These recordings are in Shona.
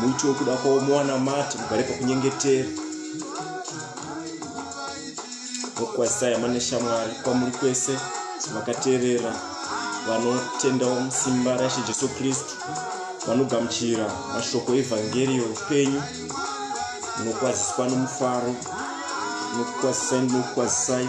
muti wekuda kwavo mowana mati mugare pakunyengetera mokwazisai hama neshamwari kwamuri kwese vakateerera vanotendawo musimba raishe jesu kristu vanogamuchira mashoko evhangeri youpenyu munokwaziswa nomufaro nokukwazisai ndinokukwazisai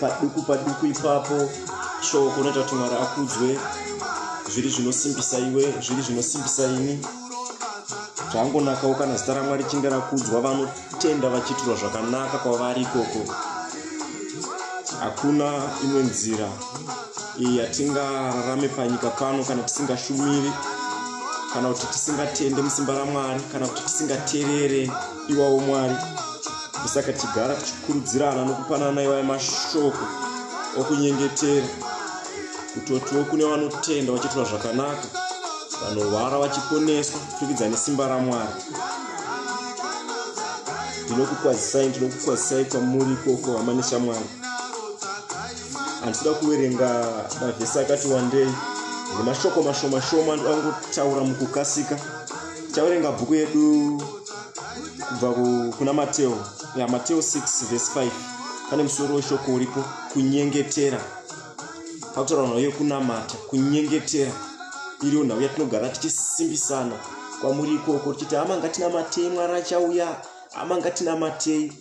paduku paduku ipapo shoko unoita kuti mwari akudzwe zviri zvinosimbisa iwe zviri zvinosimbisa ini zvangonakawo kana zita ramwari chinge rakudzwa vanotenda vachiitirwa zvakanaka kwavari ikoko hakuna imwe nzira iyi yatingararame panyika pano kana tisingashumiri kana kuti tisingatende musimba ramwari kana kuti tisingaterere iwawo mwari musaka tichigara tichikurudzirana nokupanana iwayo mashoko okunyengetera kutotiwo kune vanotenda vachiitwa zvakanaka vanorwara vachiponeswa kupfurikidza nesimba ramwari ndinokukwazisai ndinokukwazisai kwamuri ikoko hama neshamwari handisida kuverenga mavhesi akati wandei nemashoko mashomashoma ndinoda kungotaura mukukasika chaverenga bhuku yedu kubva kuna mateo ya mateo 6 vhesi 5 pane musoro weshoko uripo kunyengetera pakutaura nhau yekunamata kunyengetera iriyo nhau yatinogara tichisimbisana kwamuri ikoko tichiti hama ngatinamatei mwari achauya hama ngatinamatei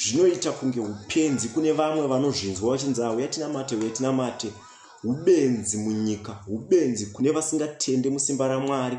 zvinoita kunge upenzi kune vamwe vanozvinzwa vachinzi auya tinamate uya tinamate ubenzi munyika ubenzi kune vasingatende musimba ramwari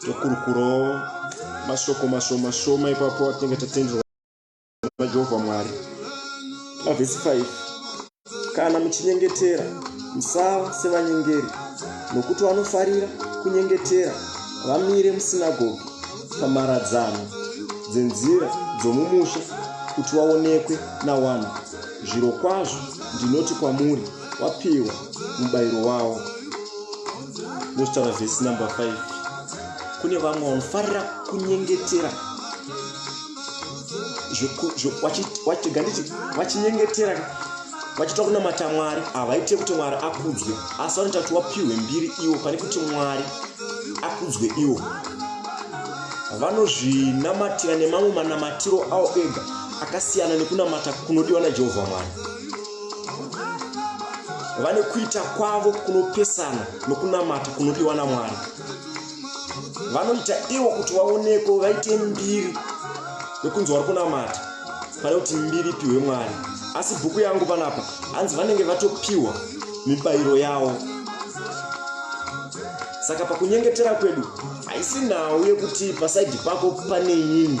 tokurukurawo mashoko mashoma shoma ipapo atinenge tatenderwa najehovha mwari mavhesi 5 kana muchinyengetera musava sevanyengeri nokuti vanofarira kunyengetera vamire musinagogi pamaradzano dzenzira dzomumusha kuti vaonekwe nawanhu zviro kwazvo ndinoti kwamuri wapiwa mubayiro wawo ndotaura vhesi number 5 kune vamwe vanofarira kunyengetera vachitega nditi vachinyengetera vachita kunamata mwari havaite kuti mwari akudzwe asi vanoita kuti wapiwe mbiri iwo pane kuti mwari akudzwe iwo vanozvinamatira nemamwe manamatiro awo ega akasiyana nekunamata kunodiwa najehovha mwari vane kuita kwavo kunopesana nokunamata kunodiwa namwari vanoita ivo kuti vaonekwe vaite mbiri yokunzi vari kunamata pane kuti mbiri ipiwe mwari asi bhuku yangu panapa hanzi vanenge vatopiwa mibayiro yavo saka pakunyengetera kwedu haisi nhau yekuti pasaidi pako pane inini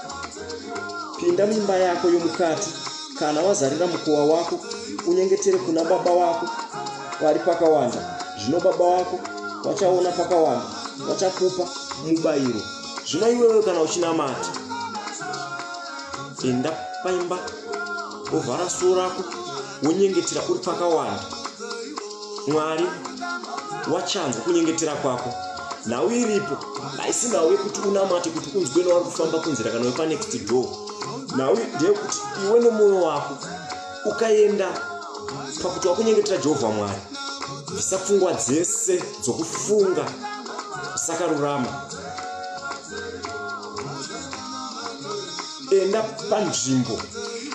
pinda mumba yako yomukati kana wazarira mukowa wako unyengetere kuna baba wako vari pakawanda zvino baba wako vachaona pakawanda vachakupa mubayiro zvino iwewe kana uchinamata enda paimba ovhara suo rako wonyengetera uri pakawanda mwari wachanzwa kunyengetera kwako nhau iripo haisi nhau yekuti unamate kuti unzwe nowari kufamba kunzira kana wepanext door nhau ndeyekuti iwe nemwoyo wako ukaenda pakuti wakunyengetera jehovha mwari bvisa pfungwa dzese dzokufunga usakarurama enda panzvimbo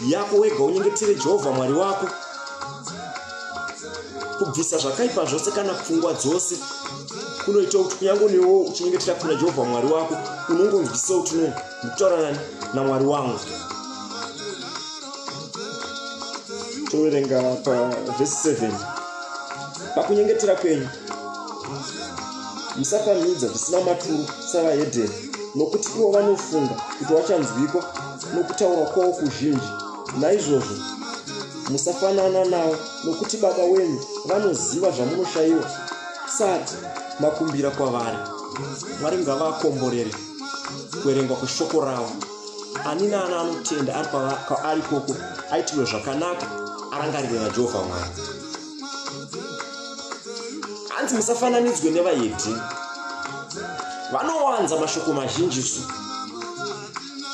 yako wega unyengetere jehovha mwari wako kubvisa zvakaipa zvose kana pfungwa dzose kunoita kuti kunyange newo uchinyengetera kuna jehovha mwari wako unongonzwisa kuti no ndikutaurana namwari wangu toverenga pavhesi 7 pakunyengetera kwenyu musapamhidza zvisina maturo savahedheni nokuti ivo vanofunga kuti wachanzwikwa nokutaura kwavo kuzhinji naizvozvo musafanana navo nokuti baba wenyu vanoziva zvamunoshayiwa sati makumbira kwavari mwari ngavakomborere kuverengwa kweshoko ravo ani naani anotenda ari kwaari koko aitirwe zvakanaka arangarirwe najehovha mwari hanzi musafananidzwe nevayedhi vanowanza mashoko mazhinjisu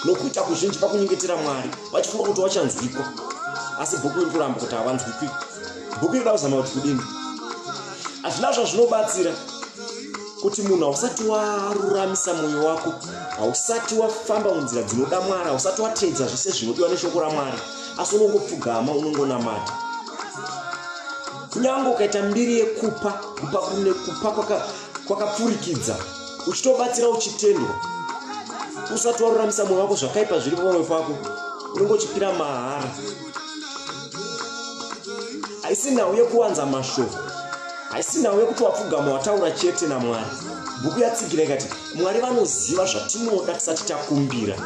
nokuita kuzhinji pakunyengetera mwari vachifunga kuti vachanzwikwa asi bhuku iri kuramba kuti havanzwikwi bhuku iri da kuzama kuti kudini hazvina zvazvinobatsira kuti munhu hausati waruramisa mwoyo wako hausati wafamba munzira dzinoda mwari hausati wateedza zvese zvinodiwa neshoko ramwari asi unongopfugama unongonamata kunyange ukaita mbiri yekupa kupa kune kupa kwakapfurikidza uchitobatsira uchitendwa usati waruramisa mwoyo wako zvakaipa zviri pamwoyo pako unongochipira mahara haisi nhau yekuwanza mashoko haisi nhau yekuti wapfugama wataura chete namwari bhuku yatsigira ikati mwari vanoziva zvatinoda tisati takumbira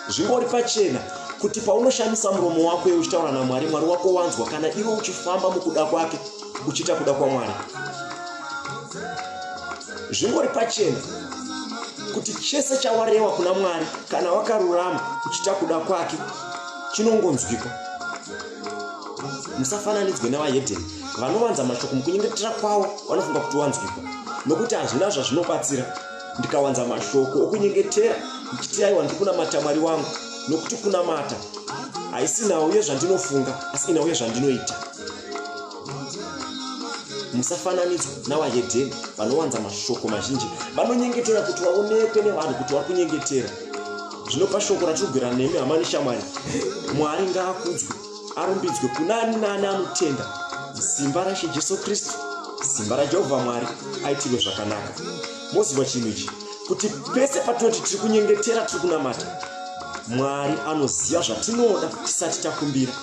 zvingori pachena kuti paunoshandisa muromo wako iwe uchitaura namwari mwari wako wanzwa kana iwe uchifamba mukuda kwake uchiita kuda kwamwari zvingori pachena kuti chese chawarewa kuna mwari kana wakarurama uchiita kuda kwake chinongonzwikwa musafananidzwe nevahedheni vanovanza mashoko mukunyengetera kwavo vanofunga kuti wanzwikwa nokuti hazvina zvazvinobatsira ndikawanza mashoko okunyengetera ndichiti aiwa ndiri kunamata mwari wangu nokuti kunamata haisi nhau yezvandinofunga asi inhau yezvandinoita musafananidzwa navahedheni vanowanza mashoko mazhinji vanonyengetera kuti vaonekwe nevanhu kuti vari kunyengetera zvinopa shoko ratinogwira nemi hamani shamwari mwari ngaakudzwe arumbidzwe kuna ani naani anotenda simba rashe jesu kristu simba rajehovha mwari aitirwe zvakanaka moziva chinhu ichi kuti pese patinoti tiri kunyengetera tiri kunamata mwari anoziva zvatinoda tisati takumbira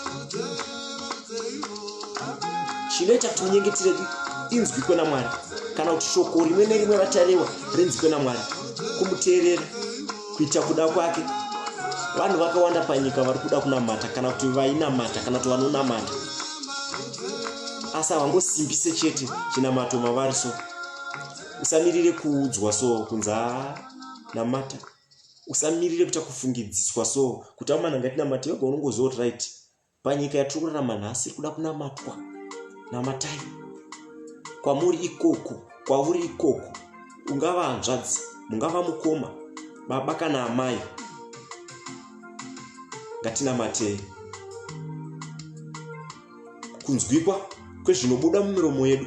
chinoita kuti munyengetire inzwi kwena mwari kana kuti shoko rimwe nerimwe ratarewa rinzwi kwena mwari kumuteerera kuita kuda kwake vanhu vakawanda panyika vari kuda kunamata kana kuti vainamata kana kuti vanonamata asi havangosimbise chete chinamato mavari so usamirire kuudzwa so kunza namata usamirire kuta kufungidziswa so kuti amana ngatinamate yoga unongoziva kuti right panyika yatiri kurarama nhasi iri kuda kunamatwa namatai kwamuri ikoko kwauri ikoko ungava hanzvadzi mungava mukoma baba kana amai ngatinamatei kunzwikwa kwezvinobuda mumiromo yedu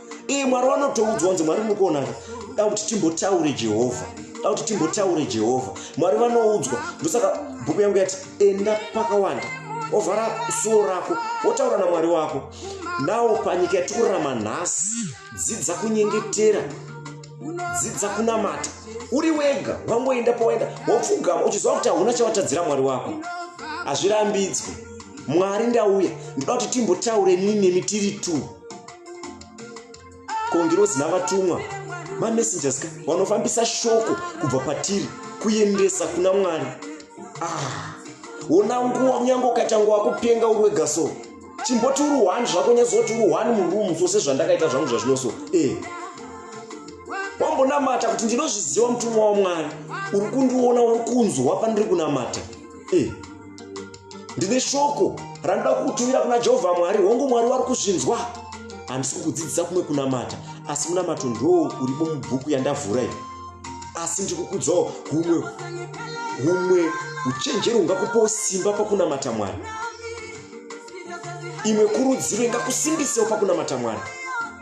iye mwari vanotoudzwa kunzi mwari muri kuonaka da kuti timbotaure jehovha da kuti timbotaure jehovha mwari vanoudzwa ndosaka bhuku yangu yati enda pakawanda ovhara suwo rako wotaura namwari wako nawo panyika yatikurarama nhasi dzidza kunyengetera dzidza kunamata uri wega wangoenda pawaenda wapfugama uchiziva kuti hauna chawatadzira mwari wako hazvirambidzwe mwari ndauya ndoda kuti timbotaure nini nemi tiri two kongirozi navatumwa mamessengers ka vanofambisa shoko kubva patiri kuendesa kuna mwari ah, ona ah, nguva kunyange ukaita nguva kupenga uri wega so chimboti uri one zvako nyazoti uri one murumu so sezvandakaita zvangu zvazvino so e eh. wambonamata kuti ndinozviziva mutumwa wamwari uri kundiona uri kunzwa pandiri kunamata e eh. ndine shoko randida kukutumira kuna jehovha mwari hongu mwari wari kuzvinzwa handisi kukudzidzisa kumwe kunamata asi munamato ndoo uripo mubhuku yandavhura iyi asi ndiri kukudzawo humwe humwe uchenjeri hungakupawo simba pakunamata mwari imwe kurudziro ingakusimbisewo pakunamata mwari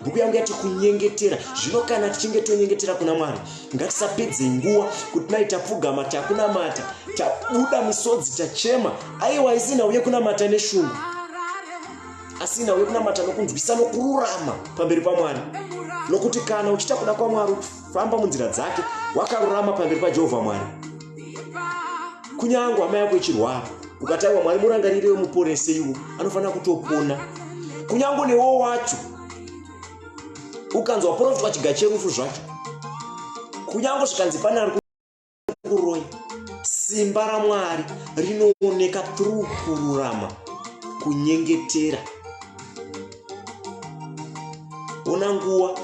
bhuku yangu yati kunyengetera zvino kana tichinge tonyengetera kuna mwari ngatisapedze nguva kuti nai tapfugama takunamata tabuda misodzi tachema aiwa isina uye kunamata neshungu asina uye kunamata nokunzwisa nokururama pamberi pamwari nokuti kana uchiita kuda kwamwari famba munzira dzake wakarurama pamberi pajehovha mwari kunyange hama yako ichirwara ukataiwa mwari murangarire wemuporese iwo anofanira kutopona kunyange newo wacho ukanzwa profitwa chiga cherufu zvacho kunyange zvikanzi pane ari kuroya simba ramwari rinooneka tru kururama kunyengetera ona nguva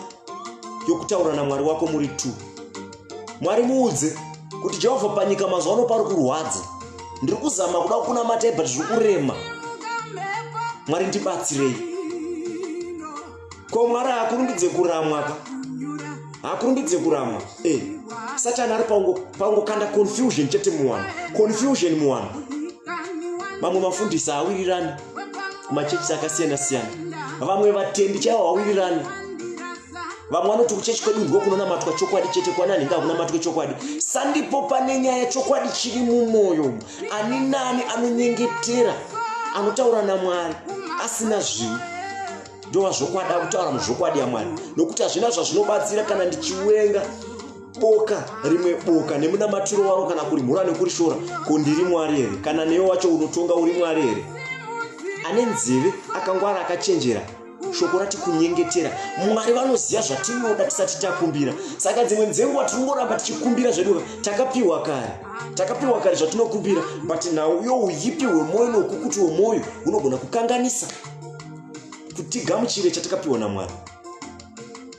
yokutaura namwari wako muri two mwari muudze kuti jehovha panyika mazuva ano pari kurwadza ndiri kuzama kuda kukuna matai but zviri kurema mwari ndibatsirei ko mwari haakurumbidze kuramwa ka haakurumbidze kuramwa e eh, satani ari pangokanda confusion chete muwanhu confusion muwanhu mamwe mafundisi haawirirani kumachechisi akasiyana siyana vamwe vatendi chaivo hawirirani vamwe vanoti kuchechi kwedu ndiko kunonamatwa chokwadi chete kwanani ngakunamatwe chokwadi sandipo pane nyaya chokwadi chiri mumwoyo ani nani anonyengetera anotaura namwari asina zvivi ndova zvokwadi akutaura muzvokwadi yamwari nokuti hazvina zvazvinobatsira kana ndichiwenga boka rimwe boka nemunamatiro waro kana kurimhura nekurishora ko ndiri mwari here kana newe wacho unotonga uri mwari here ane nzeve akangwara akachenjera shoko rati kunyengetera mwari vanoziva zvatinoda tisati takumbira saka dzimwe dzenguva tinongoramba tichikumbira zvedu takapiwa kare takapiwa kare zvatinokumbira but nhau yo uyipi hwemwoyo noukukuti wemwoyo hunogona kukanganisa kutigamuchire chatakapiwa namwari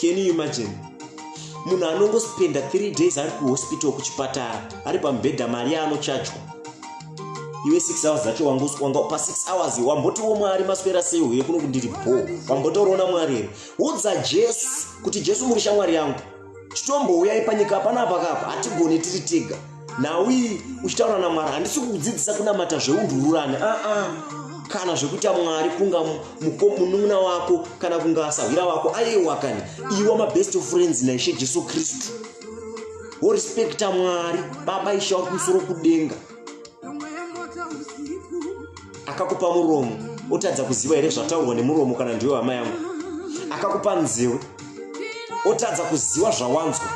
can you imagine munhu anongospenda three days ari kuhospital kuchipatara ari pamubhedha mari yaanochajwa iwe six hours dzacho wangoswanga pa six hours wambotiwo mwari maswera sei uye kuno kundiri bho wambotoona mwari here udza jesu kuti jesu muri shamwari yangu titombouyai panyika panapa kapa hatigone tiri tega nhau iyi uchitaura namwari handisi kukudzidzisa kunamata zveundururani aa ah, ah. kana zvekuita mwari kunga munun'una wako kana kunga asahwira wako aiwa kani iwa mabest of friends naishe jesu kristu worespekta mwari baba ishe wakumusoro kudenga akakupa muromo otadza kuziva here zvataurwa nemuromo kana ndiwe hama yangu akakupa nzeu otadza kuziva zvawanzwa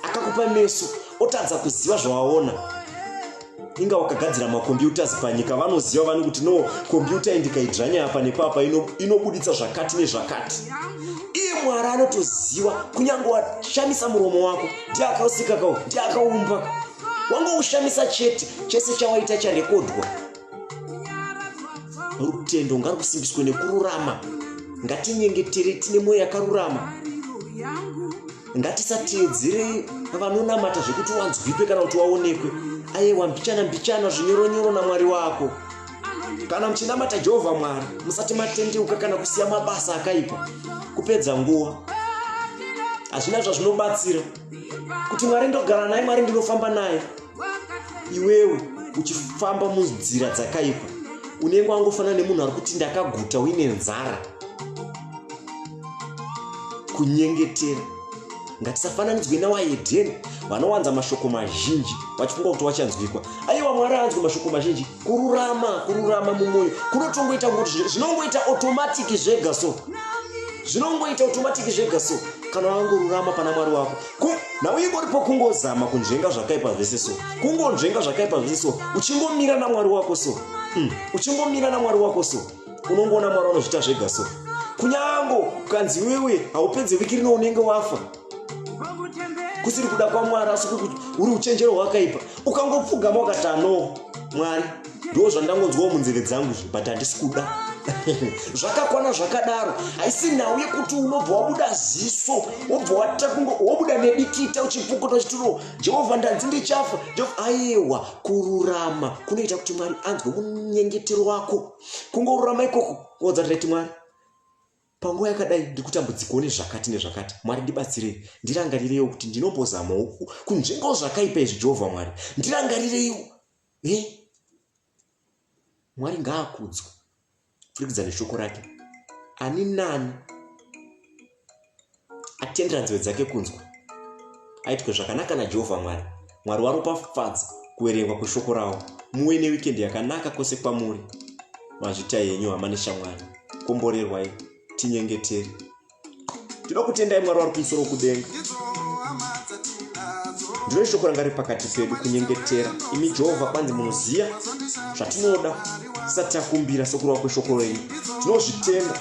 akakupa meso otadza kuziva zvawaona inga wakagadzira makombiyutas panyika vanoziva vani kuti no kombiyuta indikaidzvanya apa nepapa inobuditsa zvakati nezvakati iye mwari anotoziva kunyange washamisa muromo wako ndiye akausika kao ndiye akaumbaka wangoshamisa chete chese chawaita charekodhwa rutendo ngarusimbiswe nekururama ngatinyengetere tine mwoyo yakarurama ngatisateedzerei vanonamata zvekuti wanzwipe kana kuti waonekwe ayewa mbichana mbichana zvinyoronyoro namwari wako kana muchinamata jehovha mwari musati matendeuka kana kusiya mabasa akaipa kupedza nguva hazvina zvazvinobatsira kuti mwari ndogara naye mwari ndinofamba naye iwewe uchifamba munzira dzakaipa unenge wangofanana nemunhu ari kuti ndakaguta uine nzara kunyengetera ngatisafananidzwe nawaedheni vanowanza mashoko mazhinji vachifunga kuti wachanzwikwa aiwa mwari aanzwe mashoko mazhinji kururama kururama mumwoyo kunotongoita kuti zvinongoita automatic zvega so zvinongoita automatic zvega so kana wangorurama pana mwari wako nhau ingoripo kungozama kunzvenga zvakaipa zvese so kungonzvenga zvakaipa zvese so uchingomira namwari wako so mm. uchingomira namwari wako so unongoona mwari anozviita zvega so kunyango ukanzi iwewe haupedze viki rino unenge wafa kusiri kuda kwamwari asi kukuti uri uchenjero hwakaipa ukangopfugama ukati ano mwari ndo zvandangonzwawo munzeve dzangu izvi but handisi kuda zvakakwana zvakadaro haisi nhau yekuti unobva wabuda ziso wobva waita kunge wobuda nedikita uchipukota uchitiro jehovha ndanzi ndichafa jehovha aiwa kururama kunoita kuti mwari anzwe munyengetero wako kungorurama ikoko kuodza tiraiti mwari Panguva yakadai ndikutambudzikawo nezvakati nezvakati. Mwari ndibatsirei. Ndirangarireiwo kuti ndinombozamawo kunzvengawo zvakaipa izvi Jehovha Mwari. Ndirangarireiwo. He? Eh? Mwari ngaakudzwe. Furikidza neshoko rake. Ani nani atendera nzeve dzake kunzwa aitwe zvakanaka najehovha mwari mwari waropafadza kuverengwa kweshoko ravo muve newikendi yakanaka kwose kwamuri mazvita yenyu hama neshamwari komborerwai tinyengeteri tinoda kutendai mwari wari kumusoro kudenga ndiro shoko ranga riri pakati pedu kunyengetera imi jehovha kwanzi munoziva zvatinoda tisati takumbira sokurova kweshoko renyu tinozvitenda